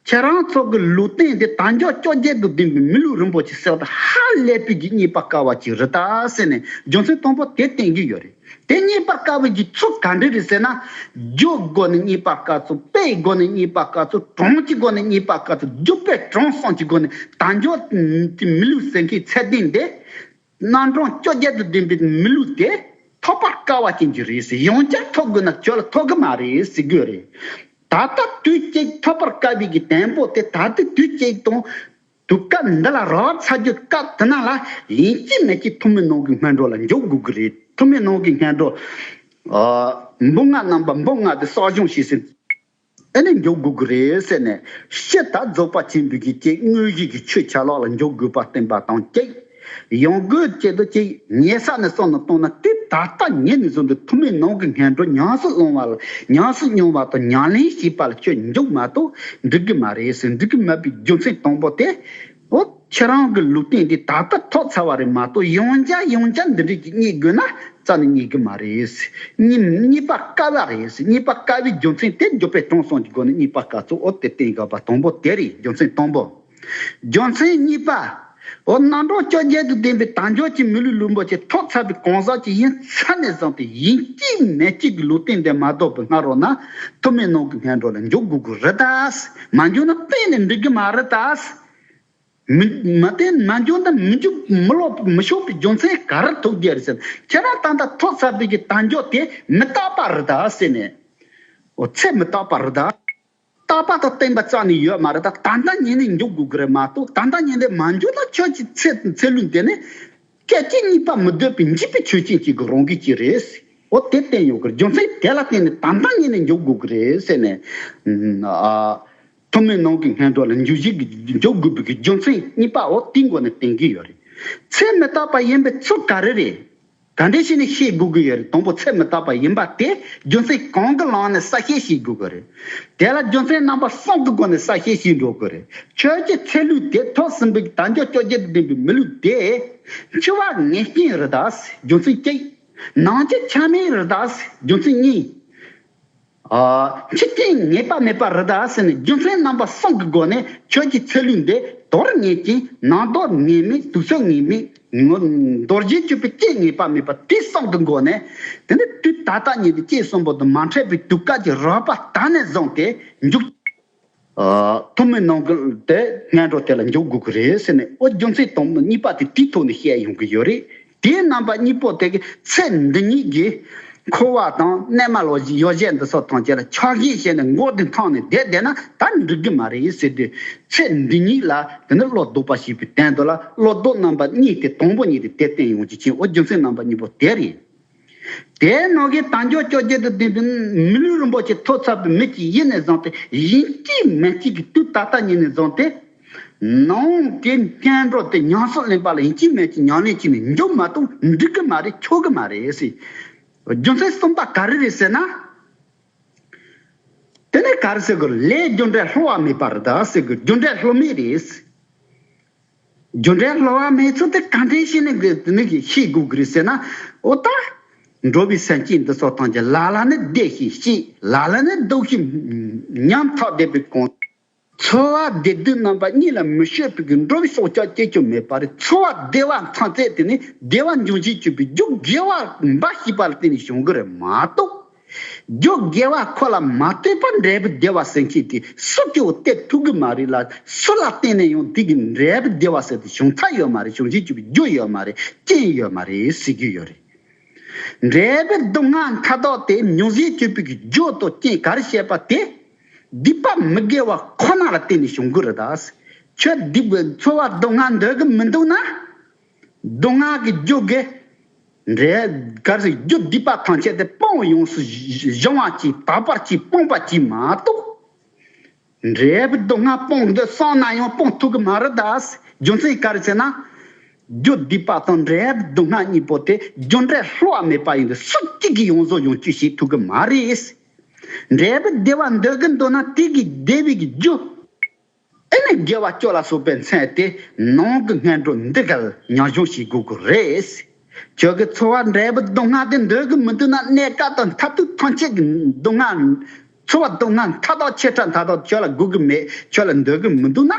Speaker 1: ཁྱེད་རང་ཚོ་གི་ལུས་སྟེང་དེ་དྭངས་སྐྱོ་སྐྱོ་རྒྱལ་དུ་ལྡིང་པའི་མི་ལུས་རིན་པོ་ཆེ་གསེར་རྟ་ཧ་ལས་པོས་ཀྱི་རྙེད་པ་དཀའ་བ་ཅིག་རི་དྭགས་བསད་ནས་རྒྱུ་མཚན་དང་པོ་དེ་བསྟན་གྱི་ཡོད་རེད་དེ་རྙེད་པ་དཀའ་བའི་རྒྱུ་ཚུགས་ག་འདྲས་རེད་ཟེར་ན། རྒྱུའི་སྒོ་ནས་རྙེད་པ་དཀའ་ཚུལ་དཔེའི་སྒོ་ནས་རྙེད་པ་དཀའ་ཚུལ་གྲངས་ཀྱི་སྒོ་ནས་རྙེད་པ་དཀའ་ཚུལ་སྒྱུ་སྤོས་དྲང་སྲོང་གྱི་སྒོ་ནས་དྭངས་སྐྱོ་དེ་མི་ལུས་ཟེར་མཁན་ཚད་ལྡན་དེ་རྣམ་གྲངས་བཅོ་བརྒྱད་དུ་བདུན་པའི་མི་ལུས་དེ་ཐོབ་པར་དཀའ་བ་རྐྱེན་གྱིས་རེད་ཟེར་ཡང་བསྐྱར་ཐོབ་དགོས་ན་ཁྱོད་ལ་ཐོབ་གི་མ་རེད་ཟེར་དགོས་རེད། ད་ལྟ་དུས་བཅད་ཐོབ་པར་དཀའ་བའི་གི་དན་པོ་དེ་ད་ལྟའི་དུས་བཅད་དང། དུས་སྐབས་འདི་ལ་རོགས་རམ་ཚ་རྒྱུ་སྐབས་དེ་ནང་ལ་ཡིན་གཅིག་མེད་གཅིག་ཐུ་མི་ནང་གི་སྔས་འགྲོ་ལ་འཇོག་དགོས་གི་རེད་ཐུ་མི་ནང་གི་སྔས་འགྲོ། འབུ་ལྔ་རྣམས་པ་འབུ་ལྔ་དེ་གསོག་སྦྱོང་བྱས་ཟིན། ཨེ་ནས་མགྱོགས་དགོས་ཀྱི་རེད་ཟེར་ནས་གཤེ་ད་རྫོགས་པ་ཅན་འདུག་གི་ཀྱེ་དངོས་གཞིས་ཀྱི་ཆོས་ཆ་ལག་ལ་མགྱོགས་དགོས་པ་བསྟན་པ་དང་ཀྱེ། ཡང་དགོས་ཀྱེ་དོ་ཀྱེ་ཉལ་ས་ནས་སོང་ནས་བཏང་ན་དེ་ད་ལྟ་ཉལ་ནས་བཟོ་འདུག་ཐུ་མེད་ནང་གི་ངན་འགྲོ་ཉང་སུ་སློང་བ་ལ་ཉང་སུ་སྙོང་བ་དང་ཉང་ལེན་བྱེད་པ་ལ་ཁྱོད་མགྱོགས་མ་གཏོགས་འགྲིག་གི་མ་རེད་ཟེར་འགྲིག་གི་མེད་པའི་རྒྱུ་མཚན་དང་པོ་དེ་འོ། ཁྱེད་རང་གི་ལུས་སྟེང་དེ་ད་ལྟ་ཐོག་ཚར་བ་རེད་མ་གཏོགས་ཡོང་བྱ་ཡོང་བྱ་འདི་འདྲས་ཀྱི་རྙེད་དགོས་ན་རྩ་ནས་རྙེད་གི་མ་རེད། རྙེད་པ་དཀའ་བ་རེད། རྙེད་པ་དཀའ་བའི་རྒྱུ་མཚན་དེ་འཇོག་པའི་དྲང་སྲོང་གི་སྒོ་ནས་རྙེད་པ་དཀའ་ཚུལ་འོ་དེ་སྟེང་གི་བ་དང་པོ་དེ་རེད་རྒྱུ་མཚན་དང་པོ། རྒྱུ་མཚན་གཉིས་པ། འོ་རྣམ་གྲངས་བཅོ་བརྒྱད་དུ་ལྡན་པའི་དལ་འབྱོར་གྱི་མི་ལུས་ལུས་འབོར་གྱི་ཐོག་ཚར་བའི་གང་ཟག་ཅིག་ཡིན་ཚད་ནས་བཟུང་སྟེ་ཡིན་གཅིག་མེད་གཅིག་གི་ལུས་སྟེང་འདི་མ་གཏོགས་པའི་སྔ་རོལ་ན་ཐུབ་མེད་ནང་གི་སྔས་འགྲོ་ལ་འཇུག་དགོས་ཀྱི་རེད། མ་འཇོན་ན་གཏན་ནས་འགྲིག་གི་མ་རེད་ད། མི་མ་བསྟེན་མ་འཇོན་ན་མི་འཇུག་མི་སློབ་མི་ཤོག་པའི་རྒྱུ་མཚན་ག་རེ་ཐུག་རྒྱུ་རེད་ཟེར་ན་ཁྱེད་རང་ད་ལྟ་ཐོག་ཚ་བུད་ཀྱི་དལ་འབྱོར་དེ་མི་རྟག་པ་རེད་ད་ཟེར་ནས། འོ་ཚད་མི་རྟག་པ་རེད་ད། རྟག་པ་དང་བརྟན་པ་རྩ་ནས་ཡོད་མ་རེད་ད་ད་ལྟ་ཉིན་ནས་འཇུག་དགོས་ཀྱི་རེད་མ་གཏོགས་ད་ལྟ་ཉིན་དེ་མ་འཇོན་ན་ཁྱོད་ཀྱི་ཚེ་ཚེ་ལུས་དེ་ནི། སྐད་ཅིག་གཉིས་པ་མི་སྡོད་པའི་འཇིགས་པའི་ཆོས་ཅན་ཅིག་གི་རང་གིས་ཀྱི་རེད། འོ་དེ་བསྟན་ཡོང་གི་རྒྱུ་མཚན་དེ་ལ་བརྟེན་ནས་དམ་བསྒྲགས་གཉིས་ནས་འཇོག་དགོས་ཀྱི་རེད་ཟེར་ནས། ཐུན་མོང་ནང་གི་སྔས་འགྲོ་ལ་འཇུ་བཞེས་ཀྱི་འཇོག་དགོས་པའི་རྒྱུ་མཚན་གཉིས་པ་འོ་དེའི་མགོ་ནས་བསྟན་གྱི་ཡོད་རེད། ཚད་མི་རྟག་པ་ཡིན་པའི་ཚུལ་ག་རེ་རེད། ག་འདྲས་བྱས་ནས་ཤེས་དགོས་ཀྱི་ཡོད་རེད་དང་པོ་ཚད་མི་རྟག་པ་ཡིན་པ་དེ་རྒྱུ་མཚན་གང་གི་ལམ་ནས་གསལ་བཤད་བྱེད་དགོས་ཀྱི་རེད། དེ་ལ་རྒྱུ་མཚན་རྣམ་པ་གསུམ་གྱི་སྒོ་ནས་གསལ་བཤད་བྱེད་འགྲོ་དགོས་རེད། ཁྱོད་ཀྱི་ཚེ་ལུས་དེ་ཐོག་སྲིན་འབུ་གྱི་དར་འཇོ་ཅོ་བརྒྱད་དུ་འགྲེངས་པའི་མི་ལུས་དེ། འཆི་བ་ངེས་རྐྱེན་རི་དྭགས་སི་རྒྱུ་མཚན་གཅིག། ནང་ཆེ་ཆ་མེད་རི་དྭགས་སི་རྒྱུ་མཚན་གཉིས། འཆི་རྐྱེན་ངེས་པ་མེད་པ་རི་དྭགས་སི་ནི་རྒྱུ་མཚན་རྣམ་པ་གསུམ་གྱི་སྒོ་ནས་ཁྱོད་ཀྱི་ཚེ་ལུས་འདི་དོར་ངེས་རྐྱེན་ནང་དོར་ངེས་མེད་དུག་ཚོད་ངེས་མེད། མདོ་རྒྱན་སྤྱོད་པའི་སྐྱེ་ངེས་པ་མེད་པ་དེ་གསང་གི་སྒོ་ནས། དེ་ནི་དུས་ད་ལྟ་ཉིད་ནས་སྐྱེས་གསུམ་པོ་དང་མ་འཕྲད་པའི་དུས་སྐད་ཅིག་རོལ་པ་དག་ནས་བཟུང་སྟེ་མཇུག། ཐུན་མིན་ནང་གི་དེ་སྔའི་འགྲོ་དེ་ལ་འཇུག་དགོས་ཀྱི་རེད་ཟེར་ནས་ཨོ་རྒྱུ་མཚན་དུམ་གཉིས་པ་དེ་དེའི་ཐོག་ནས་བཤད་ཡོང་གི་ཡོད་རེད། དེའི་རྣམ་པ་གཉིས་པོ་དེ་གི་ཚེ་འདི་ཉིད་ཀྱི། འཁོར་བ་དང་གནས་མལ་ལོ་ཡོ་བྱད་འདི་ཚོ་ཐང་ཆད་ལ་ཆགས་ཞེན་བྱས་ནས་མགོ་འདི་འཕངས་ནས་བསྡད་བསྡད་ན་ད་འགྲིག་གི་མ་རེད་ཟེར་དུས། ཚེ་འདི་ཉིད་ལ་དེ་ནི་བློ་ལྡོག་པ་ཞིག་པའི་དན་དུ་ལ་བློ་ལྡོག་རྣམ་པ་གཉིས་ཏེ་དང་པོ་ཉིད་དེ་དེ་བརྟན་ཡོངས་ཀྱི་ཆེན་ཨོ་རྒྱུ་མཚན་རྣམ་པ་གཉིས་པོ་དེ་རེད། དེའི་ནང་གི་དང་ཀྱོག་ཀྱོག་རྒྱལ་དུ་ལྡན་པའི་མི་ལུས་རིན་པོ་ཆེ་ཐོག་ཚ་བའི་མིག་གིས་ཡིད་ནས་བཟང་སྟེ་ཡིན་གཅིག་མིན་གཅིག་གིས་དུས་ད་ལྟ་ཉིད་ནས་བཟང་སྟེ། ནང་གི་སྐྱེ་འགྲོ་དེ་ཉམས་སུ་ལེན་པ་ལ་ཡིད་ཀྱི་མེད་ཀྱི་མྱང་གནས་ཀྱིས་ནི་འཇོམས་མ་གཏོགས་འགྲིག་གི་མ་རེད་ཆོག་གི་མ་རེད་ཟེར། རྒྱུ་མཚན་གསུམ་པ་ག་རེ་རེད་ཟེར་ན། དེ་ནི་ག་རེ་ཟེར་དགོས་ལས་རྒྱུ་འབྲས་ལྷོ་བ་མེད་པ་རེད་ཟེར་དགོས་རྒྱུ་འབྲས་ལྷོ་མེད་རེད་ཟེར། རྒྱུ་འབྲས་ལྷོ་བ་མེད་ཚུལ་དེ་ག་འདྲས་ཤེས་ནས་ནི་ཤེས་དགོས་ཀྱི་རེད་ཟེར་ན། འོ་ད། འགྲོ་བའི་སེམས་ཅན་འདི་ཚོ་ཐམས་ཅད་ལ་ལ་ནི་བདེ་ཞིང་སྐྱིད་ལ་ལ་ནི་སྡུག་ཞིང་ཉམ་ཐག་བསྡད་པའི་གོང་དུ། འཚོ་བ་བདེ་སྡུག་རྣམ་པ་གཉིས་ལ་མི་བཤོལ་བའི་འགྲོ་བའི་སྲོག་ཆགས་སྐྱེ་རྒྱུ་མེད་པ་རེད་འཚོ་བ་བདེ་བ་མཚང་བཙལ་དེ་ནས་བདེ་བ་འབྱུང་བཞིན་བཅོས་པའི་རྒྱུ་དགེ་བ་འབའ་ཞིག་པ་ལ་བརྟེན་ནས་བྱུང་གི་རེད་མ་གཏོགས། རྒྱུ་དགེ་བ་ཁོ་ལ་མ་ལྟོས་པར་འབྲས་བུ་བདེ་བ་ཟེར་མཁན་དེ་སུ་སྐྱེ་བོ་སྟེ་ཐུག་གི་མ་རེད་ལ་སུ་ལ་བརྟེན་ནས་ཡང་དེ་གི་འབྲས་བུ་བདེ་བ་ཟེར་དེ་བྱུང་ཐག་ཡོད་མ་རེད་བྱུང་བཞིན་བཅོས་པའི་རྒྱུ་ཡོད་མ་རེད་རྐྱེན་ཡོད་མ་རེད་ཟེར་རྒྱུ་ཡོད་རེད། འབྲས་བུ་སྡུག་བསྔལ་མཐའ་དག་དེ་འབྱུང་བཞིན་བཅོས་པའི་རྒྱུ་དང་རྐྱེན་ག་རེ་བཤད་པ་དེ། སྡིག་པ་མི་དགེ་བ་ཁོ་ན་ལ་བརྟེན་ནས་བྱུང་གི་རེད་ད། ཁྱོད་སྡིག་པའི་འཚོ་བ་སྡུག་བསྔལ་འདོད་ཀྱི་མི་འདུག་ན། སྡུག་བསྔལ་གྱི་རྒྱུ་དགེ་འབྲས་གར་གྱི་རྒྱུ་སྡིག་པ་ཐམས་ཅད་དེ་སྤོང་བའི་ཡོངས་སུ་གཞུང་བ་གྱིས་དག་པར་གྱིས་སྤོང་པར་གྱིས་མ་གཏོགས། འབྲས་བུ་སྡུག་བསྔལ་སྤོང་འདོད་སོང་ན་ཡང་སྤོང་ཐུབ་ཀྱི་མ་རེད་ད། རྒྱུ་མཚན་ག་རེ་བྱས་ན། རྒྱུ་སྡིག་པ་དང་འབྲས་བུ་སྡུག་བསྔལ་གཉིས་པོ་དེ་རྒྱུ་འབྲས་ལྷོ་བ་མེད་པ་ཡིན་པས་སུ་གཅིག་གིས་ཡོངས་སུ་ཡོང་གཅོད་བྱེད་ཐུབ་ཀྱི་མ་རེད། འབྲས་བུ་བདེ་བ་འདོད་གིན་འདོད་ན་དེ་གིས་བདེ་བའི་རྒྱུ། དེ་ནི་དགེ་བ་སྤྱོད་ལ་སོགས་པའི་མཚན་དེ་ནང་གི་ངན་འགྲོ་འདི་གར་མྱ་གཞུང་ཞིག་དགོས་ཀྱི་རེད། ཁྱོད་ཀྱི་འཚོ་བར་འབྲས་བུ་སྡུག་བསྔལ་དེ་འདོད་ཀྱི་མི་འདུག་ན་གནས་སྐབས་དང་མཐར་ཐུག་ཐམས་ཅད་ཀྱི་སྡུག་བསྔལ། འཚོ་བ་སྡུག་བསྔལ་མཐའ་དག་ཆད་ཕྲ་མཐའ་དག་ཁྱོད་ལ་དགོས་ཀྱི་མེད་ཁྱོད་ལ་འདོད་ཀྱི་མི་འདུག་ན།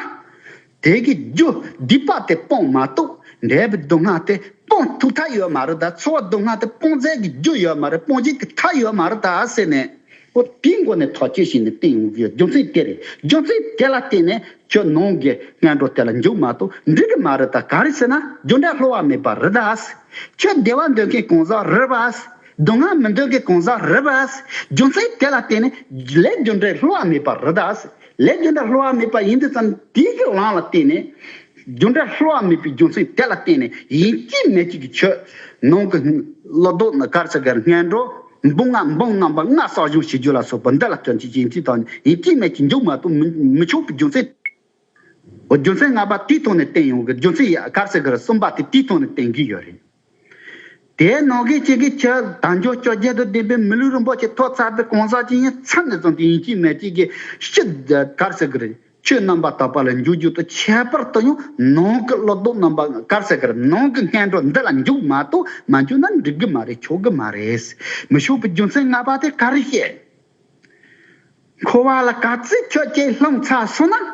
Speaker 1: དེ་གི་རྒྱུ་སྡིག་པ་སྟེ་སྤོང་མ་གཏོགས་འབྲས་བུ་སྡུག་བསྔལ་སྟེ་སྤོང་ཐུག་མཐའ་ཡོད་མ་རེད་ད་ཚོར་བ་སྡུག་བསྔལ་སྟེ་སྤོང་རྫས་ཀྱི་རྒྱུ་ཡོད་མ་རེད་སྤོང་བྱེད་ཀྱི་མཐའ་ཡོད་མ་རེད་ད་ཟེར་ནས། པོ་དེའི་མགོ་ནས་ཐག་གཅོད་བྱས་ནས་བསྟན་ཡོང་གི་ཡོད་རྒྱུ་མཚན་དེ་རེད་རྒྱུ་མཚན་དེ་ལ་བརྟེན་ནས་ཁྱོད་ནང་གི་སྔས་འགྲོ་དེ་ལ་འཇུག་མ་གཏོགས་འགྲིག་གི་མ་རེད་ད་གང་རེད་ཟེར་ན་རྒྱུ་འབྲས་ལྷོད་བ་མེད་པ་རེད་ད་ཁྱོད་བདེ་བ་འདོད་མཁན་གང་ཟག་རེད་པ་སྡུག་བསྔལ་མི་འདོད་མཁན་གང་ཟག་རེད་པ་རྒྱུ་མཚན་དེ་ལ་བརྟེན་ནས་ལས་རྒྱུ་འབྲས་ལྷོད་བ་མེད་པ་རེད་ད། ལས་རྒྱུ་འབྲས་སླུ་བ་མེད་པ་ཡིན་དུས་ཙམ་དེའི་དགེ་བླང་ལ་བརྟེན་ནས། རྒྱུ་འབྲས་སླུ་བ་མེད་པའི་རྒྱུ་མཚན་དེ་ལ་བརྟེན་ནས་ཡིན་གཅིག་མེད་གཅིག་གི་ཆོས། ནང་གི། བློ་ལྡོག་ནི་དཀར་ཆ་གར་སྔས་འགྲོ། འབུམ་ལྔ་འབུམ་རྣམ་པ་ལྔ་བསགས་སྦྱོང་བྱེད་རྒྱུ་ལ་སོགས་པ་འདི་ལ་སྐྱོན་གྱི་ཡིན་གཅིག་དང་ཡིན་གཅིག་མེད་ཀྱི་མཇུག་མ་གཏོགས་མི་ཆོག་པའི་རྒྱུ་མཚན། རྒྱུ་མཚན་ལྔ་པ་དེའི་ཐོག་ནས་བསྟན་ཡོང་གི་རྒྱུ་མཚན་ཡ་དཀར་ཆ་གར་གསུམ་པ་དེ་དེའི་ཐོག་ནས་བསྟན་གྱི་ཡོད་རེད། དེའི་ནང་གི་གཅིག་གིས་ཆུ་དྭངས་ཕྱོགས་བཅུ་རྒྱལ་དུ་ལྡན་པའི་མི་ལུས་རིན་པོ་ཆེ་ཐོག་ཚར་པའི་གང་ཟག་ཅིག་ཡིན་ཚད་ནས་བཟུང་སྟེ་ཡིན་གཅིག་མེད་གཅིག་གིས་ཤི་དཀར་ཟས་ཀྱི་རིགས་ཆུའི་རྣམ་པ་དག་པ་ལ་འཇུག་རྒྱུ་དང་ཁྱད་པར་དུ་ཡང་ནང་གི་གློག་རྡུལ་རྣམ་པ་དཀར་ཟས་ཀྱི་རིགས་ནང་གི་ངན་འགྲོ་འདི་ལ་འཇུག་མ་གཏོགས་མ་འཇུག་ན་འགྲིག་གི་མ་རེད་ཆོག་གི་མ་རེད། མི་ཞུགས་པའི་རྒྱུ་མཚན་ལྔ་པ་དེ་ག་རེ་བཤད། འཁོར་བ་ལ་ག་ཚོད་ཁྱོད་ཀྱིས་ལྷུང་ཚར་སོང་ན།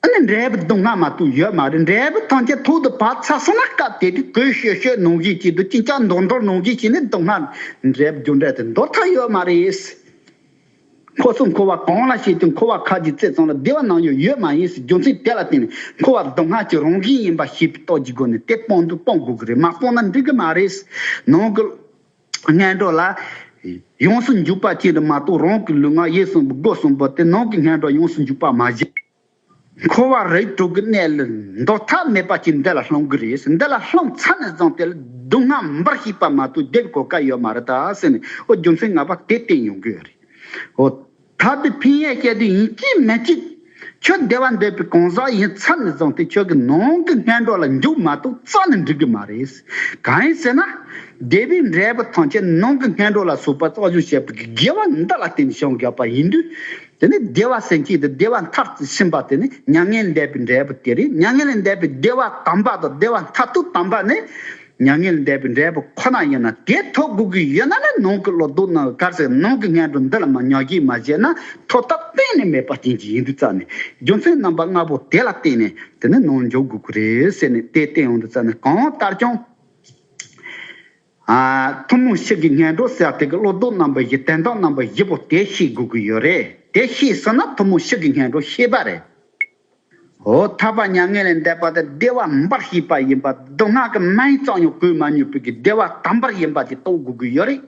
Speaker 1: ཨ་ནི་འབྲས་བུ་དུག་ལྔ་མ་གཏོགས་ཡོད་མ་རེད་འབྲས་བུ་ཐམས་ཅད་ཐུག་ཏུ་བབས་ཚར་སོང་ན་སྐབས་དེ་དུས་གོས་ཤོད་ཤོད་གནོང་གཞི་བྱེད་དུ་ཅིང་ཅང་འདོར་འདོར་གནོང་གཞི་བྱས་ནས་དུག་ལྔ་འབྲས་བུ་རྒྱུ་འབྲས་དེ་འདོར་ཐག་ཡོད་མ་རེད། འཁོར་སོང་འཁོར་བ་གང་ལ་བྱས་དུས་འཁོར་བ་ཁ་གྱི་རྩེ་ཙམ་ལ་བདེ་བ་ནང་ཡོད་ཡོད་མ་ཡིན་ཟེར་རྒྱུ་མཚན་དེ་ལ་བརྟེན་ནས་འཁོར་བ་དུག་ལྔ་གྱི་རང་བཞིན་ཡིན་པ་ཤེས་པའི་རྟོགས་ཀྱི་སྒོ་ནས་དེ་སྤོང་དུས་སྤོང་དགོས་ཀྱི་རེད་མ་སྤོང་ན་འགྲིག་གི་མ་རེད། ནང་གི། ངན་འགྲོ་ལ། ཡོངས་སུ་འཇུག་པ་ཅན་དུ་མ་གཏོགས་རང་གི་ལུས་ངག་ཡིད་གསུམ་པོ་སྒོ་གསུམ་པོ་དེ་ནང་གི་ངན་འགྲོ་ཡོངས་སུ་འཇུག་པར་མ་བཞེད། འཁོར་བ་རིགས་དྲུག་གི་གནས་ལ་འདོར་ཐབས་མེད་པ་ཅིག་འདི་ལ་སློང་གི་རེད་ཟེར་འདི་ལ་སློང་ཚར་ནས་བཟུང་དེ་ལ་སྡུག་བསྔལ་འབར་ཤེས་པ་མ་གཏོགས་བསྡད་པའི་གོ་སྐབས་ཡོད་མ་རེད་ད་ཟེར་ནས་ཨོ་རྒྱུ་མཚན་ང་པ་དེ་བསྟན་ཡོང་གི་ཡོད་རེད། ཨོ། ད་དེ་ཕན་ཡོད་སྐྱེ་དུས་ཡིན་ཅི་མི་གཅིག། ཁྱོད་བདེ་བ་འདོད་པའི་གང་ཟག་ཡིན་ཚར་ནས་བཟུང་སྟེ་ཁྱོད་ཀྱི་ནང་གི་སྔས་འགྲོ་ལ་འཇུག་མ་གཏོགས་རྩ་ནས་འགྲིག་གི་མ་རེད། གང་ཡིན་ཟེར་ན། བདེ་བའི་འབྲས་བུ་ཐམས་ཅད་ནང་གི་སྔས་འགྲོ་ལ་ཟུག་པ་གཙང་བཞུ་བྱེད་པ་གི་དགེ་བ་འདི་ལ་བརྟེན་ནས་བྱུང་དགོས་པ་ཡིན་དུས། དེ་ནི་བདེ་བ་སེམས་སྐྱེས་ཏེ་བདེ་བ་མཐར་ཕྱིན་པ་དེ་ནི་མྱ་ངན་འདས་པའི་འབྲས་བུ་དེ་རེད་མྱ་ངན་ལས་འདས་པའི་བདེ་བ་དམ་པ་དང་བདེ་བ་མཐར་ཐུག་དམ་པ་ནི། མྱ་ངན་འདས་པའི་འབྲས་བུ་ཁོ་ན་ཡིན་ན་དེ་ཐོབ་དགོས་ཀྱི་ཡོད་ན་ལ་ནང་གི་ལོ་དུག་ནང་གི་དཀར་ཟས་ནང་གི་ངན་འགྲོ་འདི་ལ་མ་ཉོག་གྱིས་མ་བཞེས་ན་ཐོབ་ཐབས་གཏན་ནས་མེད་པ་རྐྱེན་གྱིས་ཡིན་དུས་རྩ་ནས་རྒྱུ་མཚན་རྣམ་པ་ལྔ་པོ་དེ་ལ་བརྟེན་ནས་དེ་ནི་ནང་འཇོག་དགོས་ཀྱི་རེད་ཟེར་ནས་དེ་བསྟན་ཡོང་དུས་རྩ་ནས་གང་ལྟར་ཀྱང། ཐུན་མོང་ཕྱི་གི་ངན་འགྲོ་ཟེར་བ་དེ་གི་ལོ་དུག་རྣམ་པ་བཞི་དན་རྟགས་རྣམ་པ་བཞི་པོ་དེ་ཤེས་དགོས་ཀྱི་ཡོད་རེད་དེ་ཤེས་ཟིན་ན་ཐུན་མོང་ཕྱི་གི་ངན་འགྲོ་ཤེས་པ་རེད། ཧོ། ཐར་པ་མྱ་ངན་ལས་འདས་པ་དེ་བདེ་བ་མིན་པར་ཤེས་པ་ཡིན་པ་མདོ་སྔགས་ཀྱི་མན་ཡིག་གཙང་ཉོག་གུས་མ་ཉོས་པོད་ཀྱི་བདེ་བ་དམ་པར་ཡིན་པ་དེ་རྟོགས་དགོས་ཀྱི་ཡོད་རེད།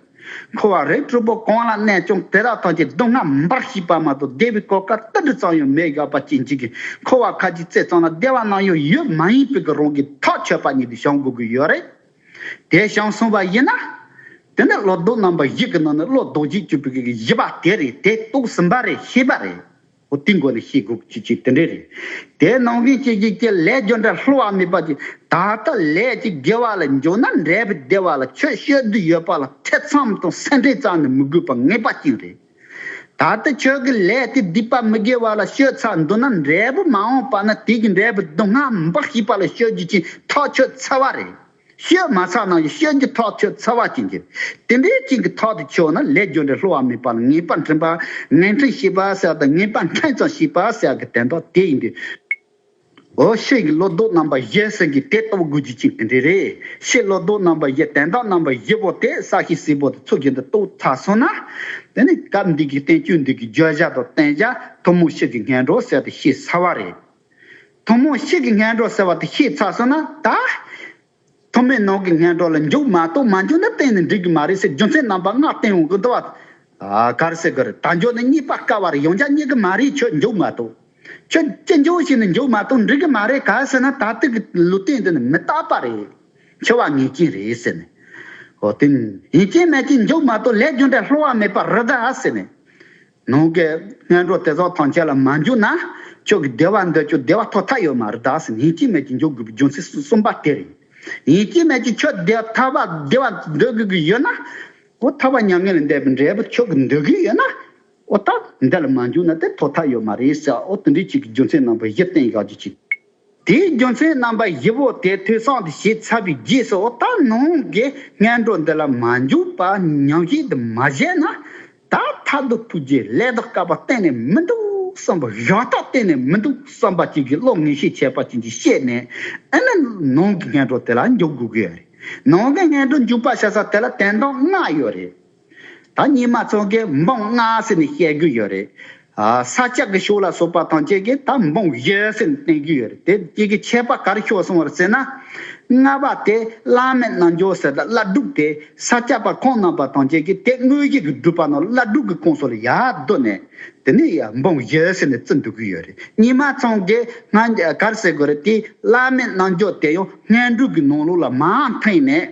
Speaker 1: འཁོར་བ་རིགས་དྲུག་པོ་གང་ལ་གནས་ཀྱང་དེ་དག་ཐམས་ཅད་མདོ་སྔགས་མིན་པར་ཤེས་པ་མ་གཏོགས་བདེ་བའི་གོ་སྐབས་ཏིལ་འབྲུ་ཙམ་ཡང་མེད་བཞག་པ་ཅི་འཇིག་གི་འཁོར་བ་ཁ་ཅིག་རྩེ་གཙང་ལ་བདེ་བ་ནམ་ཡང་ཡོད་མ་ཡིན་པོད་ཀྱི་རང་གིས་ཐག་ཆོད་པ་ཉིད་དུ་བྱང་དགོས་ཀྱི་ཡོད་རེད། དེ་བྱང་གསུངས་པ་ཡིན་ན། དེ་ནི་བློ་ལྡོག་རྣམ་པ་བཞི་གི་ནང་ནས་བློ་ལྡོག་རྗེས་གཅོད་པོད་ཀྱི་བཞི་པ་དེ་རེད་དེ་རྟོགས་ཟིན་པ་རེད་ཤེས་པ་རེད། ཨོ་དེའི་མགོ་ནས་ཤེས་དགོས་ཀྱི་ཆོས་དེ་འདྲས་རེད། དེ་ནང་བཞིན་བྱེད་ཀྱི་ཁྱེད་ལས་འབྱོར་འདྲ་ལྷུ་བ་མེད་པ་ཅིག་ད་ལྟ་ལས་ཅིག་དགེ་བ་ལ་འཇོག་ན་འབྲས་བུ་བདེ་བ་ལ་ཁྱོད་ཤོད་རྒྱུ་ཡོད་པ་ལ་ཐེ་ཚོམ་དང་སེམས་ཁྲལ་ཙམ་ནི་མི་དགོས་པ་ངེས་པ་ཅིག་རེད། ད་ལྟ་ཁྱོད་ཀྱི་ལས་དེ་སྡིག་པ་མི་དགེ་བ་ལ་ཤོད་ཚར་འདུག་ན་འབྲས་བུ་མ་འོངས་པ་ན་དེ་ཀྱི་འབྲས་བུ་སྡུག་བསྔལ་འབའ་ཞིག་པ་ལ་ཤོད་རྒྱུ་ཅིག་ཐག་ཆོད་ཚར་བ་རེད། བཤོས་མ་ཚགས་ན་ཡི་བཤོས་ཀྱི་ཐོག་ཆོད་ཚ་བ་ཅན་གྱིས། དེ་འདྲའི་སྐྱིན་གྱི་ཐོག་ཏུ་ཆོད་ན་ལས་རྒྱུ་འབྲས་སླུ་བ་མེད་པ་ལ་ངེས་པར་འཕྲིན་པ། ངེས་འཕྲིན་ཞེས་པ་སེལ་དང་ངེས་པར་འཕྲིན་ཙམ་ཞེས་པ་སེལ་གྱི་དན་ཐོག་དེ་ཡིན་ཏེ། འོ་ཤེས་ཀྱི་བློ་ལྡོག་རྣམ་པ་བཞི་ཟེར་གྱི་དེ་ལྟ་བུ་དགོས་རྒྱུ་ཅན་དེ་འདྲའི་རེ་ཤེས་བློ་ལྡོག་རྣམ་པ་བཞི་དན་རྟགས་རྣམ་པ་བཞི་པོ་དེ་ས་གཤིས་སེར་པོ་དང་ཚུགས་ཀྱི་འདི་ལྟ་བུ་ཚགས་སོང་ན། དེ་ནི་སྐབས་འདིའི་གི་བསྟན་བཅོས་འདི་གི་བརྗོད་བྱ་དང་བསྟན་བྱ་ཐུན་མོང་ཤེས་ཀྱི་ངན་འགྲོ་སེལ་ཏེ་ཤེས་ཚ་བ་རེད། ཐུང་མོ་གཤིས་ཀྱི་སྔས་འགྲོ་ཟེར་བ་དེ་ཤེས་ཚར་སོང་ན་ད། ཐུང་མོས་ནང་གི་སྔས་འགྲོ་ལ་འཇུག་མ་གཏོགས་མ་འཇུག་ན་གཏན་ནས་འགྲིག་གི་མ་རེད་ཟེར་རྒྱུ་མཚན་རྣམ་པ་ལྔ་བསྟན་འོང་གི་འདུག་བ། ག་རེ་ཟེར་གི་རེད་ད་འཇུག་ནས་གཉིད་པ་དཀའ་བ་རེད་ཡོང་རྒྱ་གཉིད་གི་མ་རེད་ཁྱོད་འཇུག་མ་གཏོགས། ཁྱོད་ཅི་འཇུག་བྱས་ནས་འཇུག་མ་གཏོགས་འགྲིག་གི་མ་རེད་ག་ཟེར་ན་ད་དུས་ཀྱི་ལུས་རྟེན་འདི་ནི་མི་རྟག་པ་རེད། འཆི་བ་ངེས་ཅན་རེད་ཟེར་ནས། ཧོ་ཏིན། ཡིན་གཅིག་མེད་གཅིག་འཇུག་མ་གཏོགས་ལས་རྒྱུ་འབྲས་ལྷོད་བ་མེད་པ་རི་དྭགས་ཟེར་ནས། ནང་གི་སྔས་འགྲོ་དེ་ཚོ་ཐང་ཆད་ལ་མ་འཇུག་ན། ཁྱོད་ཀྱི་བདེ་བ་འདི་ཁྱོད་བདེ་བ་ཐོབ་ཐབས་ཡོད་མ་རེད་ད་ཟེར་ཡིན་གཅིག་མེད་ཀྱི་འཇུག་དགོས་པའི་རྒྱུ་མཚན་གསུམ་པ་དེ་རེད། ཡིན་གཅིག་མེད་ཀྱི་ཁྱོད་བདེ་ཐ་བ་བདེ་བ་འདོད་དགོས་ཀྱི་ཡོད་ན། འོ་ཐ་བ་མྱ་ངན་ལས་འདས་པའི་འབྲས་བུ་ཁྱོད་ཀྱི་འདོད་གི་ཡོད་ན། འོ་ད་འདི་ལ་མ་འཇུག་ན་དེ་ཐོབ་ཐབས་ཡོད་མ་རེད་ཟེར་འོ་དེ་འདྲའི་ཆོས་ཀྱི་རྒྱུ་མཚན་རྣམ་པ་བཞི་བསྟན་ཡག་རྒྱུ་གཅིག། དེའི་རྒྱུ་མཚན་རྣམ་པ་བཞི་བོ་དེ་ཐོས་བསམ་དུ་བྱས་ཚར་བའི་རྗེས་སུ་འོ་ད་ནང་གི་སྔས་འགྲོ་འདི་ལ་མ་འཇུག་པར་ཉམས་བཞེས་འདི་མ་བཞེས་ན། ད་ལྟ་སྡུག་པོ་རྗེས་ལས་དག་དཀའ་བ་གཏན་ནས་མི་འདུག་བསམ་པ་ཡག་རྟགས་གཏན་ནས་མི་འདུག་བསམ་པ་ཅིག་གིས་བློ་ངན་ཤེས་བྱས་པ་ཅིག་གིས་ཤེས་ནས་ཨེ་ན་ནང་གི་ངན་འགྲོ་དེ་ལ་འཇུག་དགོས་ཀྱི་ཡོད་རེད་ནང་གི་ངན་འགྲོ་འཇུག་པ་བྱེད་ས་དེ་ལ་དན་རྟགས་མངའ་ཡོད་རེད་ད་ཉི་མ་ཚང་གིས་འབངས་མངའ་ཟེར་ནས་བཤད་རྒྱུ་ཡོད་རེད་ས་ལྕགས་ཀྱི་ཤོག་ལ་སོགས་པ་དང་བཅས་ཀྱི་ཐབ་འབུངས་བཞི་ཟིན་བསྟན་གྱི་ཡོད། དེ་དཀྱིལ་གྱི་ཆད་པ་གར་ཤོག་གསུང་བར་ཟད་ན། ལྔ་པ་དེ་བླ་མེད་རྣལ་འབྱོར་ཟེར་ལ་བླ་སྒྲུབ་དེ་ས་སྐྱ་པ་ཁོང་རྣམས་པ་དང་བཅས་ཀྱི་དེ་དངོས་གཞི་གི་སྒྲུབ་པ་རྣམས་བླ་སྒྲུབ་ཀྱི་ཁོངས་སུ་ལ་ཡར་བསྡུ་ནས། དེ་ནས་ཡང་འབུངས་བཞི་ཟིན་ནས་བརྩི་འདོད་ཀྱི་ཡོད། གཉིས་མ་ཚང་གི་སྔགས་གར་ཟེར་དགོས་རེད་དེ་བླ་མེད་རྣལ་འབྱོར་དེ་ཡང་སྔས་འགྲོས་ཀྱི་ནང་ལུགས་ལ་མའང་ཐེངས་ནས།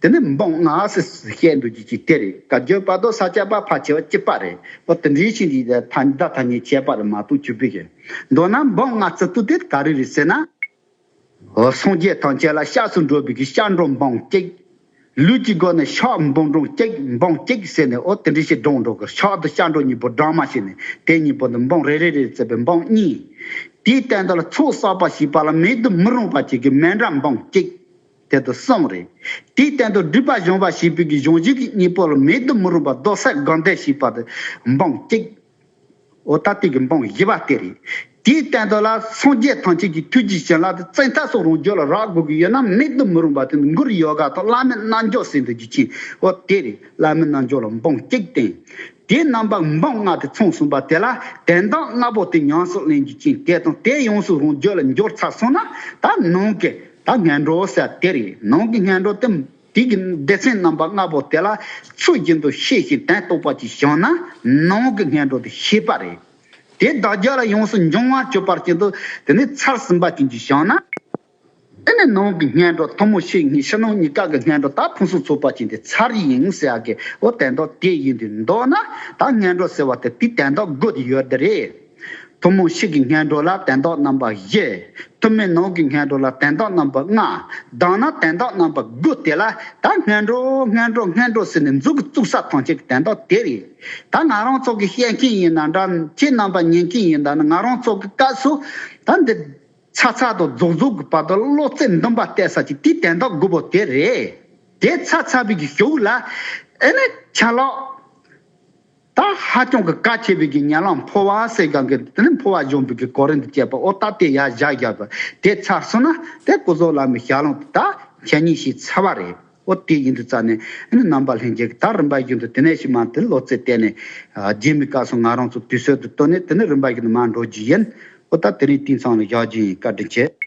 Speaker 1: དེ་ནི་མི་འབངས་ང་སི་སི་བཤད་འདུག་ཅིག་ཅིག་དེ་རེད་དགའ་སྐྱོ་པ་དོ་ས་ཆ་པ་ཕ་ཆེ་བ་སྐྱིད་པ་རེད་བ་དེ་འདྲའི་ཆེ་འདྲའི་ཐ་ད་ཐ་སྙད་བཤད་པ་རེད་མ་གཏོགས་ཅི་བེད་ཀྱི་མདོ་ན་མི་འབངས་ང་སི་སི་དེ་ག་རེ་རེད་ཟེར་ན། སངས་རྒྱས་ཐང་ཆད་ལ་ཤགས་སུ་འགྲོ་བི་གི་ཤགས་འགྲོ་འབངས་སྐྱིད། ལུས་ཀྱི་སྒོ་ནས་ཤགས་མི་འབངས་འབྲོང་སྐྱིད་འབངས་སྐྱིད་ཟེར་ནས་ཨོ་དེ་འདྲའི་ཞིག་འབྲོང་འགྲོ་གི་ཤགས་དུ་ཤགས་འགྲོ་གཉིས་པོ་འབྲང་མ་བྱས་ནས་དེ་གཉིས་པོ་འདི་འབངས་རེ་རེ་རེད་ཟེར་བའི་འབངས་གཉིས། དེའི་སྟེང་དུ་ལ་ཚོགས་བསགས་པ་ཞིག་པ་ལ་མེད་དུ་མི་རུང་བ་བྱེད་ཀྱི་མན་འདྲ་འབངས་སྐྱིད། དེ་དུ་གསུམ་རེ། དེའི་སྟེང་དུ་སྒྲིབ་པ་གཞོམ་བ་ཞེས་པའི་གི་གཞུང་བཞི་གི་གཉིས་པོ་ལ་མེད་དུ་མི་རུང་བ་རྡོ་གསེར་དགང་བཟླས་ཞེས་པ་དེ་འབུམ་གཅིག། འོ་ད་ལྟའི་གི་འབུམ་བཞི་བ་སྟེ་རེ། དེའི་སྟེང་དུ་ལ་སངས་རྒྱས་ཐམས་ཅད་ཀྱི་ཐུགས་ཀྱི་བྱིན་རླབས་དེ་བཙན་ཐབས་སུ་རང་རྒྱུད་ལ་རག་དགོས་ཀྱི་ཡོད་ན་མེད་དུ་མི་རུང་བ་དེ་ནི་མགུར་ཡོ་ག་དང་བླ་མའི་རྣལ་འབྱོར་སྲས་འདུལ་གྱི་ཆེན་པོ་སྟེ་རེ། བླ་མའི་རྣལ་འབྱོར་ལ་འབུམ་གཅིག་བསྟན། དེའི་རྣམ་པ་འབུམ་ལྔ་སྟེ་མཚུངས་གསུམ་པ་དེ་ལ་དན་རྟགས་ལྔ་པོ་དེ་ཉམས་སུ་ལེན་རྒྱུ་ཅན་གྱིས་དང་དེ་ཡོངས་སུ་རང་རྒྱུད་ལ་འབྱོར་ཚར་སོང་ན་ད་ནང་གི་ད་སྔས་འགྲོ་ཟེར་བ་དེ་རེད་ནང་གི་སྔས་འགྲོ་སྟེ། དུས་ཀྱི་སྡེ་ཚན་རྣམ་པ་ལྔ་པོ་དེ་ལ་ཚུལ་བཞིན་དུ་ཤེས་ཤིང་དོན་རྟོགས་པ་གྱིས་བཞག་ན་ནང་གི་སྔས་འགྲོ་དེ་ཤེས་པ་རེད། དེ་བདག་རྒྱ་ལ་ཡོངས་སུ་འབྱུང་བར་སྤྱོད་པར་བྱེད་དོ། དེ་ནས་ཚར་ཟིན་པ་བྱིན་གྱིས་བཞག་ན། དེ་ནས་ནང་གི་སྔས་འགྲོ་ཐོབ་མོ་ཤེས་ངེས་ཕྱི་ནང་གཉིས་ཀ་གི་སྔས་འགྲོ་དག་ཕུན་སུམ་ཚོགས་པ་བྱིན་ཏེ་ཚར་ཡིན་ཟེར་བ་གི་ཨོ་དན་རྡོ་དེ་ཡིན་དུས་འདོགས་ན་ད་སྔས་འགྲོ་ཟེར་བ་དེ་དུས་དན་རྡོ་དགོས་ཀྱི་ཡོད་རེད། ཐུན་མོང་གཤིས་ཀྱི་ངན་འགྲོ་ལ་དན་རྟོག་རྣམ་པ་བཞི། ཐུན་མིན་ནང་གི་ངན་འགྲོ་ལ་དན་རྟོག་རྣམ་པ་ལྔ། དྭངས་སྣང་དན་རྟོག་རྣམ་པ་དགུ་དེ་ལ་ད་ངན་འགྲོ་ངན་འགྲོ་ངན་འགྲོ་ཟེར་ནས་མཇུག་གི་བཙུག་ས་ཐང་ཆད་ཀྱི་དན་རྟོག་དེ་རེད། ད་ང་རང་ཚོ་གི་བཤད་མཁན་ཡིན་ན་འདྲ། ཁྱེད་རྣམ་པ་ཉན་མཁན་ཡིན་ད་ནི་ང་རང་ཚོ་གི་སྐབས་སུ་ད་འདི། ཚ་ཚ་དང་རྫོགས་རྫོགས་ཀྱི་བར་དུ་བློ་རྩེ་འདུམ་པ་གཏད་ས་ཅིག་དེ་དན་རྟོག་དགུ་པོ་དེ་རེད། དེ་ཚ་ཚ་བུད་ཀྱི་ཞོ་བུད་ལ། ཨེ་ནི། ཆ་ལགས། ད་ཧ་ཅང་གི་དཀའ་ཆེ་བའི་གི་ཉལ་ལམ་འཕོ་བ་སེ་གང་གི་དེ་ནི་འཕོ་བ་གཞོམ་པའི་གི་གོ་རིན་དུ་བཅད་པ་ཨོ་ད་དེ་ཡ་བཞག་བཞག་པ་དེ་ཚར་སོང་ན་དེ་སྐུ་བཟོ་ལམ་མི་ཞག་ལོང་དུ་ད་མཁྱེན་ཉིན་ཞིག་ཚར་བ་རེད་ཨོ་དེ་ཡིན་དུ་རྩ་ནས་ཨེ་ནི་རྣམ་པ་ལྷན་རྒྱལ་གི་ད་རིམ་པ་བཞིན་དུ་དེ་ནས་ཞིག་མ་དེ་ལོ་ཙེ་བལྟས་ནས་རྗེས་མི་དཀའ་སོང་ང་རང་ཚོ་དུས་སྲོལ་དུ་བཏོན་ནས་དེ་ནི་རིམ་པ་བཞིན་དུ་མར་འགྲོ་རྒྱུ་ཡིན་ཨོ་ད་དེ་རིང་དེང་སང་ལ་བཞག་རྒྱུ་ཡིན་བཀའ་དྲིན་ཆེ།